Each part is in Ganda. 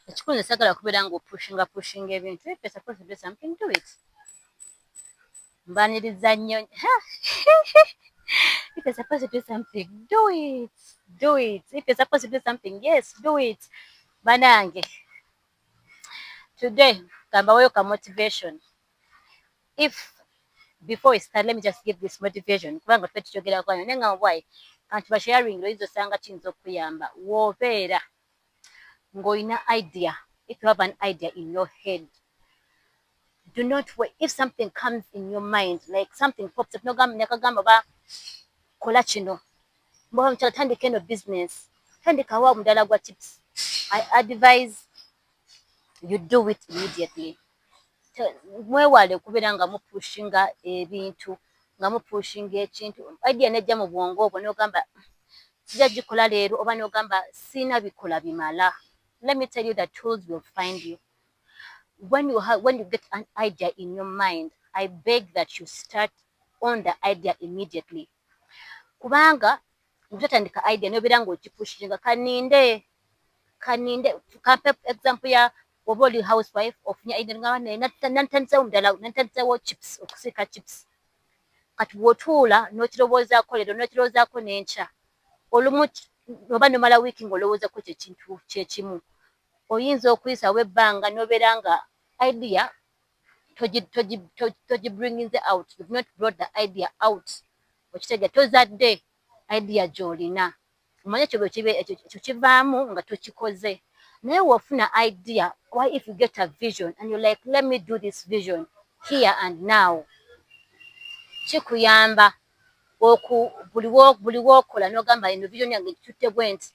ekikulu nze sagala kubeera nga opushinga pushinga ebintu if you're supposed to do something do it mbaniriza nnyo if you're supposed to do something do it do it if you're supposed to do something yes do it banange today kambaweyo ka motivation If before we start let me just give this motivation kubanga tuffe tukyogerako anyo naye ngamba bwayi kantu ba sharing oyinza osanga kiyinza okukuyamba wobeera ng'olina idea if you have an idea in your head do not wait if something comes in your mind like something pops up nogamba nekagamba ba kola kino mboba mukyala tandika eno business tandikawo omudala gwa chips i advise you do it immediately mwewale okubeera nga mupushinga ebintu nga mupushinga ekintu idea nejja mu bwongo obwo n'ogamba sija gikola leero oba n'ogamba sirina bikola bimala let me tell you the tools will find you when you, have, when you get an idea in your mind i beg that you start on the idea immediately kubanga Ngatandika idea nobera nga okipushinga kaninde kaninde kampe example ya oba oli housewife ofunye idea ngamba naye nantandise omudala nantandise wo chips okusika chips kati wotuula nokirowoozaako leero nokirowoozaako nenkya olumu oba nomala wiiki nga olowoozako kyekintu kyekimu oyinza okuyisawo ebbanga nobeera nga idea togibringinze out you've not brought the idea out okitege tozadde idea gyolina omanye ekyo bwekiba ekyo kivaamu nga tokikoze naye wofuna idea why if you get a vision and you like let me do this vision here and now kikuyamba oku buli wokola nogamba eno vision yange gitutte bwenti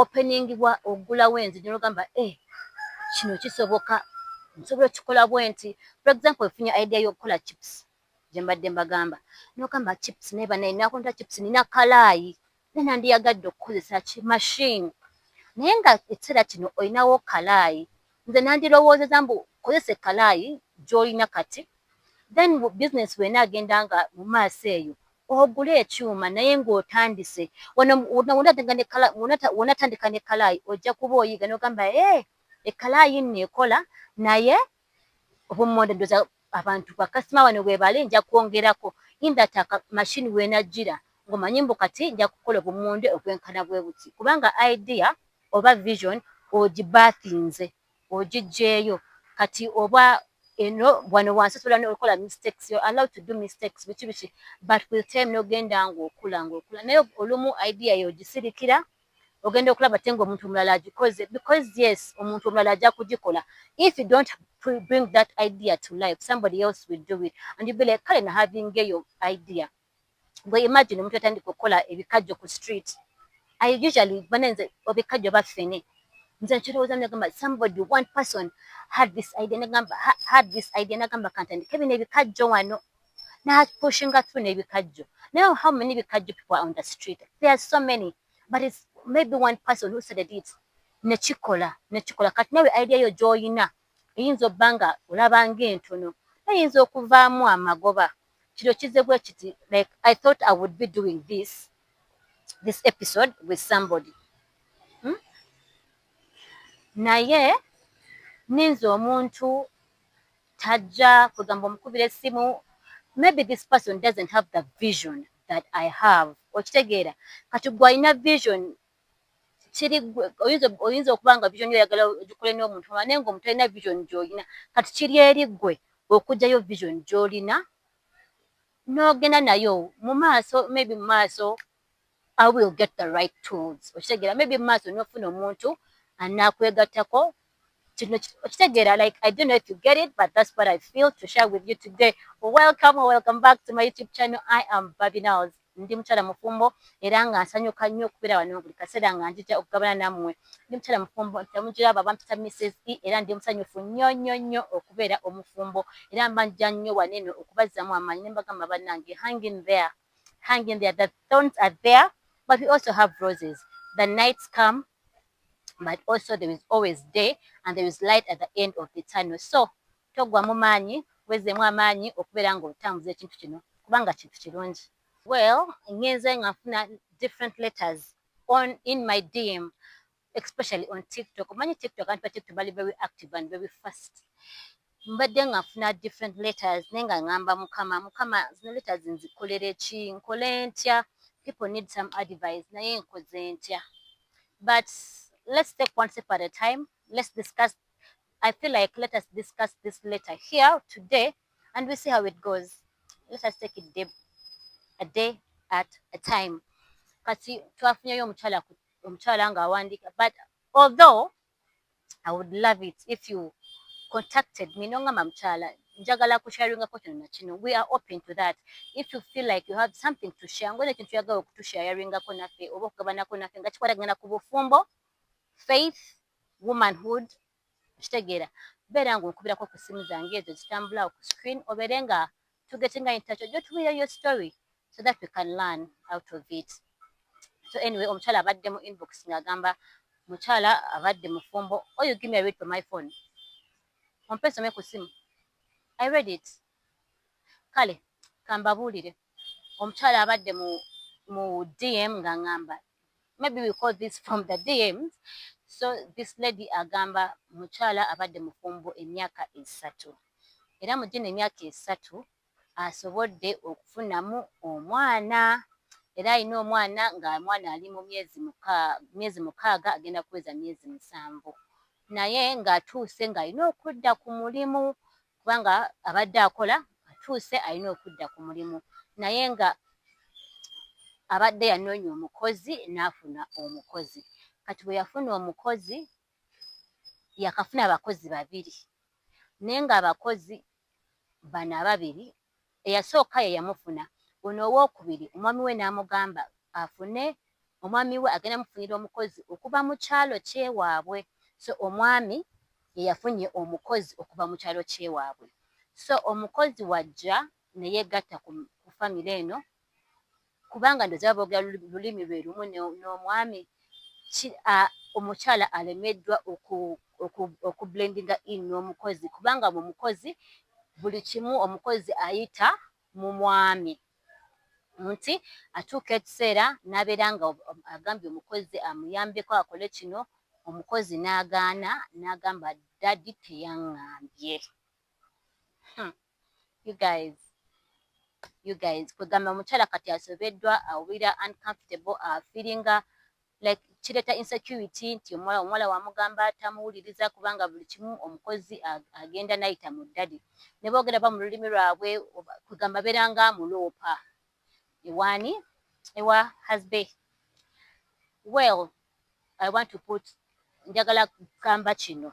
openingibwa ogulawo enzigi nogamba eh kino kisoboka nsobola okikola bwenti for example ofunye idea yokukola chips gyembadde mbagamba nogamba chips naye banaye nakonta chips nina kalaayi naye nandiyagadde okukozesa ki machine naye nga ekiseera kino olinawo kalaayi nze nandirowoozeza mbu kozesa ekalaayi gyolina kati then business bwena agenda nga mu maaso eyo Ogule ekyuma naye ng'otandise. Wano w'onatandika ne kkalaayi ojja kuba oyiga n'ogamba ee ekkalaayi nno ekola naye obummonde ndowooza abantu bakasitoma wano weebali nja kwongerako in that machine w'enajjira ng'omanyi mbu kati nja kukola obummonde obwenkana bwe buti kubanga idea oba vision ogibaatinze. ogijeeyo kati oba eno wano wansi osobola nokola mistakes you're allowed to do mistakes biki biki but with time nogenda ng'okula ng'okula naye olumu idea yo ogisirikira ogenda okulaba ate ng'omuntu omulala agikoze because yes omuntu omulala ajja kugikola if you don't bring that idea to life somebody else will do it and you be like kale na having eyo idea gwe imagine omuntu yatandika okukola ebikajjo ku street I usually banenze obikajjo baffene nze nkirowooza nagamba somebody one person had this idea nagamba had this idea nagamba kantandika ebino ebikajjo wano napushinga through nebikajjo now how many bikajjo people are on the street there are so many but it's maybe one person who said it nekikola nekikola kati nawe idea yo gyoyina eyinza obba nga olaba ngaentono eyinza okuvaamu amagoba kino kizze bwe kiti like I thought I would be doing this this episode with somebody hmm? naye ninze omuntu tajja kwegamba omukubira essimu maybe this person doesn't have the vision that I have okitegeera kati gwe alina vision kiri ggwe oyinza okuba nga vision oyagala ogikole n'omuntu omulala naye ng'omuntu talina vision gy'olina. Kati kiri eri ggwe okuggyayo vision gy'olina n'ogenda nayo mu maaso maybe mu maaso I will get the right tools okitegeera maybe mu maaso n'ofuna omuntu anaakwegattako kino okitegeera like i don't know if you get it but that's what i feel to share with you today welcome or welcome back to my youtube channel i am babinaos ndi mukyala mufumbo era nga nsanyuka nnyo okubeera wano buli kaseera nga njija okugabana nammwe ndi mukyala mufumbo ntemugiraba bampita mrs e era ndi musanyufu nnyo nnyo nnyo okubeera omufumbo era mba nja nnyo wano eno okubazzamu amaanyi ne mbagamba bannange hanging there hanging there the thorns are there but we also have roses the nights come but also there is always day and there is light at the end of the tunnel so toggwamu maanyi wezzemu amaanyi okubeera nga otambuza ekintu kino kubanga kintu kirungi well ngenze nga nfuna different letters on in my dm especially on tiktok omanyi tiktok anti ba tiktok bali very active and very fast Mbadde nga nfuna different letters naye nga ngamba mukama mukama zino letters nzikoleleki nkole ntya people need some advice naye nkoze ntya but let's take one step at a time let's discuss I feel like let us discuss this letter here today and we see how it goes. Let us take it day, a day at a time. Kati twafunyeyo omukyala omukyala nga awandiika but although I would love it if you contacted me nongamba mukyala njagala kusharingako kino nakino we are open to that if you feel like you have something to share ngolina ekintu yagala okutusharingako naffe oba okugabanako naffe nga kikwatagana ku bufumbo faith womanhood okitegeera beera nga onkubirako ku ssimu zange ezo zitambula ku screen obeere nga tugeze nga entakyo ojja otubuulira your story so that we can learn out of it so anyway omukyala abadde mu inbox nga agamba mukyala abadde mufumbo oh you give me a read for my phone ompe some ku simu i read it kale kambabuulire omukyala abadde mu mu dm nga ngamba maybe we call this from the DMs. So this lady agamba mukyala abadde mufumbo emyaka esatu era mu gino emyaka esatu asobodde okufunamu omwana era alina omwana nga omwana ali mu myezi mukaaga agenda kuweza myezi musanvu naye ng'atuuse ng'alina okudda ku mulimu kubanga abadde akola atuuse alina okudda ku mulimu naye nga abadde yanoonya omukozi n'afuna omukozi kati bwe yafuna omukozi yakafuna abakozi babiri naye ng'abakozi bano ababiri Eyasooka ye yamufuna, ono owookubiri omwami we n'amugamba afune omwami we agenda mufunira omukozi okuva mu kyalo ky'ewaabwe. So omwami ye yafunye omukozi okuva mu kyalo ky'ewaabwe. So omukozi w'ajja ne yeegatta ku famire eno. Kubanga ndowoza baba bogera lulimi lwe lumu n'omwami ki a omukyala alemeddwa oku oku oku blendinga in n'omukozi kubanga mu mukozi buli kimu omukozi ayita mu mwami nti atuuka ekiseera n'abeera nga agambye omukozi amuyambeko akole kino omukozi n'agaana n'agamba daddy teyangambye huh. You guys. You guys. Kwegamba mukyala kati asobeddwa awulira uncomfortable a feelinga like kireta insecurity nti omuwala omuwala wamugamba tamuwuliriza kubanga buli kimu omukozi agenda nayita mu daddy. Nebogera ba mu lulimi lwabwe kwegamba beranga muloopa. ewani ewa husband well I want to put njagala kugamba kino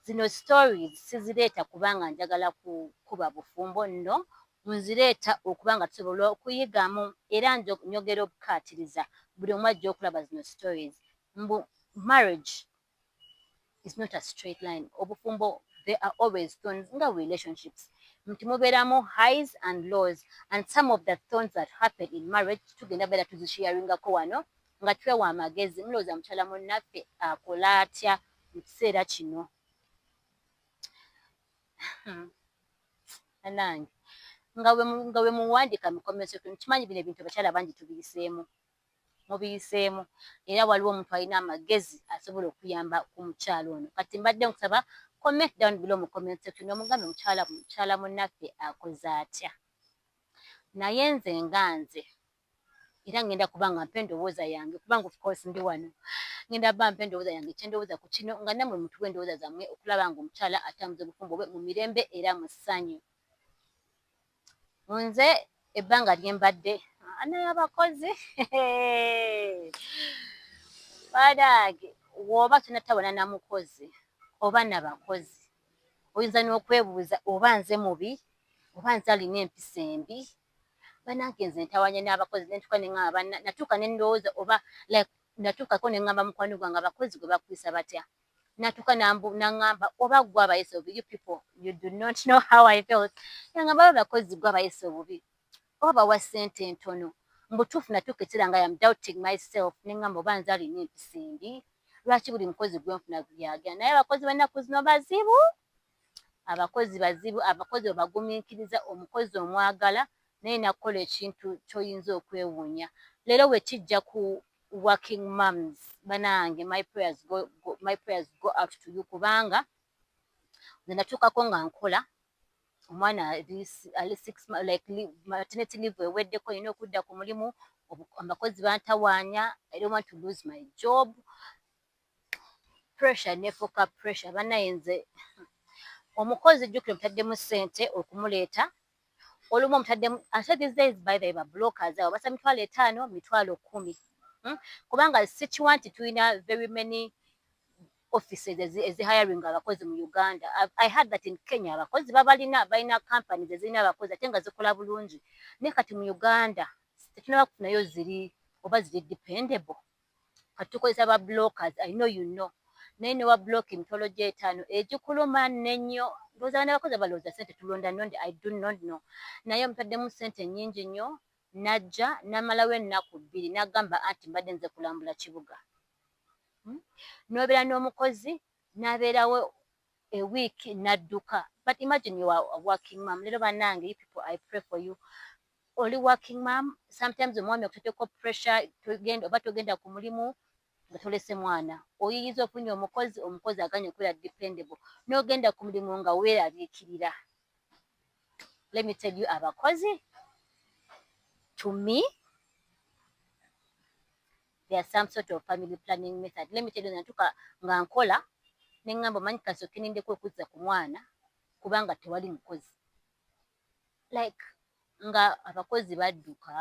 zino stories sizireeta kubanga njagala kukuba bufumbo no nzireeta okuba nga tusobola okuyigamu era njogera obukaatiriza buli omu ajja okulaba zino stories mbu marriage is not a straight line obufumbo there are always thorns nga relationships nti mubeeramu highs and lows and some of the thorns that happen in marriage tugenda beera tuzisharingako wano nga twewa amagezi mulowooza mukyala munnaffe akola atya mu kiseera kino hmm. anange nga wemuwandika mukomesotwe nkimanyi bino ebintu abakyala bangi tubiyiseemu mubiyiseemu era waliwo omuntu alina amagezi asobola okuyamba ku mukyala ono kati mbadde nkusaba comment down below mu comment section omugambe mukyala mukyala munnaffe akoze atya naye nze nga nze era ngenda kuba nga mpa endowooza yange kubanga ofcourse ndi wano ngenda ba mpa endowooza yange kyendowooza ku kino nga namwe mutuwa endowooza zammwe okulaba nga omukyala atambuza obufumbo bwe mu mirembe era mu ssanyu Nze ebbanga lye mbadde ana y'abakozi banange woba tonatabana na mukozi oba na bakozi oyinza n'okwebuuza oba nze mubi oba nze alina empisa embi banange nze ntawanya n'abakozi nentuka nengamba banange natuuka nendowooza oba like natuukako nengamba mukwano gwange abakozi gwe bakuyisa batya natuka nangamba oba gwe abayisa obubi you people you do not know how I felt nangamba oba bakozi gwe abayisa obubi oba bawa sente ntono mubutuufu natuuka ekiseera nga am doubting my self nengamba oba nze alina empisa embi lwaki buli mukozi gwenfuna yagenda naye abakozi benakuzino bazibu. Abakozi bazibu, abakozi obagumiikiriza, omukozi omwagala naye n'akukola ekintu ky'oyinza okwewuunya. Leero bwe kijja ku working mums banaange my prayers go, my prayers go out to you kubanga nze natuukako nga nkola omwana ali ali six like maternity leave eweddeko nina okudda ku mulimu abakozi bantawaanya I don't want to lose my job Pressure nefuuka pressure banaye nze omukozi jukira omutaddemu sente okumuleeta olumu omutaddemu ate these days by the ba blockers abo basa mitwalo etaano mitwalo kumi hmm? kubanga sikiwa nti tulina very many offices ezi hiring abakozi mu Uganda I had that in Kenya abakozi babalina balina companies ezirina abakozi ate nga zikola bulungi naye kati mu Uganda tetunaba kufunayo ziri oba ziri dependable kati tukozesa ba blockers I know you know naye ne wa block emitwalo gyo etaano egikuluma nenyo ndowooza abaana bakozi balowooza sente tulonda nondi I do not know naye omutaddemu sente nyingi nyo najja namalawo ennaku bbiri nagamba anti mbadde nze kulambula kibuga hmm? nobeera n'omukozi nabeerawo a week nadduka but imagine you are working mom lero banange you people I pray for you Oli working mum sometimes omwami akuteteko pressure togenda oba togenda ku mulimu nga tolese mwana oyiyiza ofunye omukozi omukozi aganye okubeera dependable nogenda ku mulimu nga weraliikirira let me tell you abakozi to me there are some sort of family planning method let me tell you natuka nga nkola nengamba omanyi kasoke nindeko okuzza ku mwana kubanga tewali mukozi like nga abakozi badduka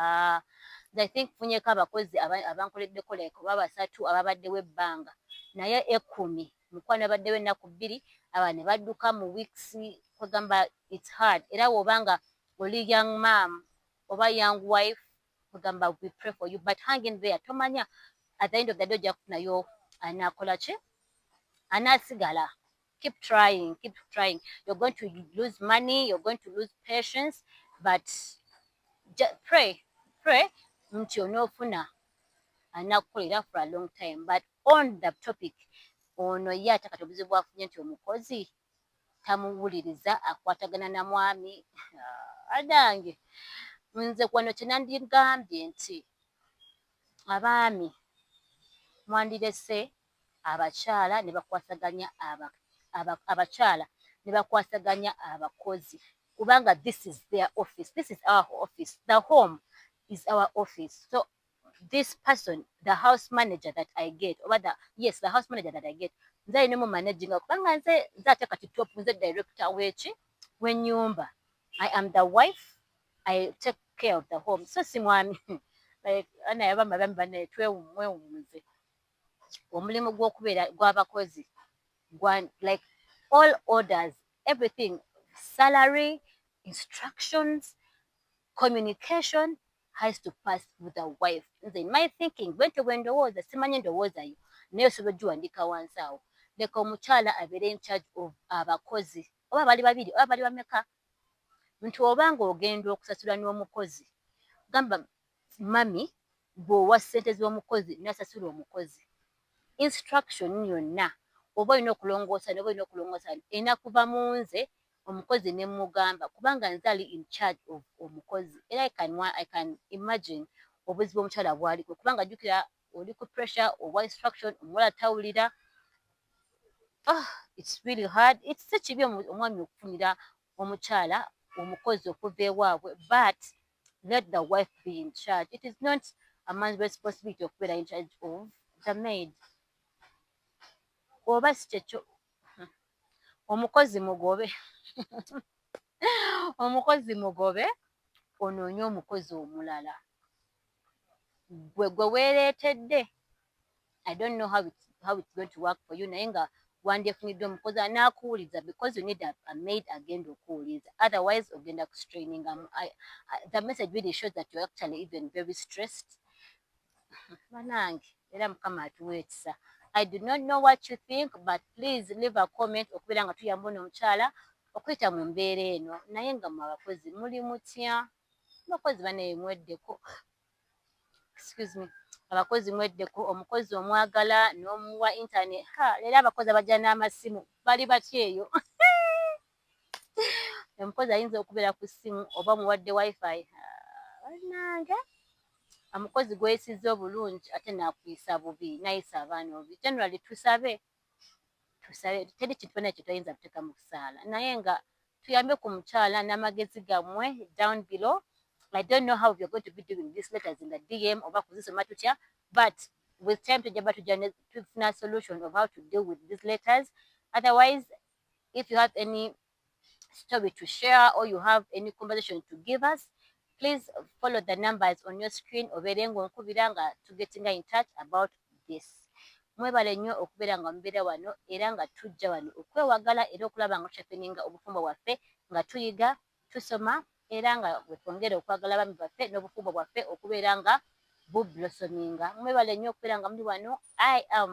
nze i think funyeko abakozi abankoleddeko like oba basatu ababaddewo ebbanga naye ekkumi mukwano abaddewo ennaku bbiri aba ne badduka mu weeks kwegamba its hard era woba nga oli young mam oba young wife kwegamba we pray for you but hanging there tomanya at the end of the day ojja kufunayo anakolaki anasigala keep trying keep trying you're going to lose money you're going to lose patience but pray pray nti onofuna anakukolera for a long time but on the topic ono ye ate kati obuzibu bwafunye nti omukozi tamuwuliriza akwatagana na mwami ah, adange nze kwano kyenandigambye nti abaami mwandirese abakyala ne bakwasaganya aba, aba, abakyala ne bakwasaganya abakozi kubanga this is their office, this is our office, the home is our office so this person the house manager that I get oba the, yes the house manager that I get nze alina mu managinga kubanga nze nze ate kati top nze director weki wenyumba I am the wife I take care of the home so si mwami like ana yaba mabami bane twewumwewumuze omulimu gwokubeera gwabakozi gwa like all orders everything salary instructions communication has to pass through the wife nze in my thinking bwentyo bwendowooza simanyi endowooza yo naye osobola ogiwandiika wansi awo leka omukyala abeere in charge of abakozi oba bali babiri oba bali bameka nti oba nga ogenda okusasula n'omukozi gamba mummy bwowa sente zomukozi nasasula omukozi instruction yonna oba olina okulongoosa noba olina okulongoosa wano erina kuva munze omukozi nemugamba kubanga nze ali in charge of omukozi era i can imagine obuzibu omukyala bwaliko kubanga jukira oli ku pressure owa instruction omuwala tawulira oh it's really hard it's si kibi omwami okufunira omukyala omukozi okuva ewabwe but let the wife be in charge it is not a man's responsibility okubeera in charge of the maid oba sikyekyo hmm. omukozi mugobe omukozi mugobe onoonye omukozi omulala gwe gwe weereetedde i don't know how it, how it's going to work for you naye nga wandyefunidde omukozi anaakuwuliza because you need a, a maid agenda okuwuliza otherwise ogenda kustrainingamu the message really shows that you're actually even very stressed banange era mukama atuwa ekisa i do not know what you think but please leave a comment okubeera nga tuyamba ono omukyala okuyita mu mbeera eno naye nga mwe abakozi muli mutya abakozi banaye mweddeko excuse me abakozi mweddeko omukozi omwagala n'omuwa internet ha leero abakozi abajja n'amasimu bali batya eyo omukozi ayinza okubeera ku ssimu oba muwadde wifi banange omukozi gweyisiza obulungi ate nakuyisa bubi nayisa abaana obi generally tusabe tusabe teri kintu kyona kyetuyinza kuteeka mu kusaala naye nga tuyambe ku mukyala n'amagezi gammwe down below I don't know how we are going to be doing these letters in the DM oba kuzisoma tutya but with time tujja ba tujja tufuna solution of how to deal with these letters otherwise if you have any story to share or you have any conversation to give us please follow the numbers on your screen obeere ng'onkubira nga tugetinga in touch about this mwebale nnyo okubeera nga mubeera wano era nga tujja wano okwewagala era okulaba nga tukyafeninga obufumbo bwaffe nga tuyiga tusoma era nga wetwongere okwagala abaami baffe n'obufumbo bwaffe okubeera nga bublosominga mwebale nnyo okubeera nga muli wano i am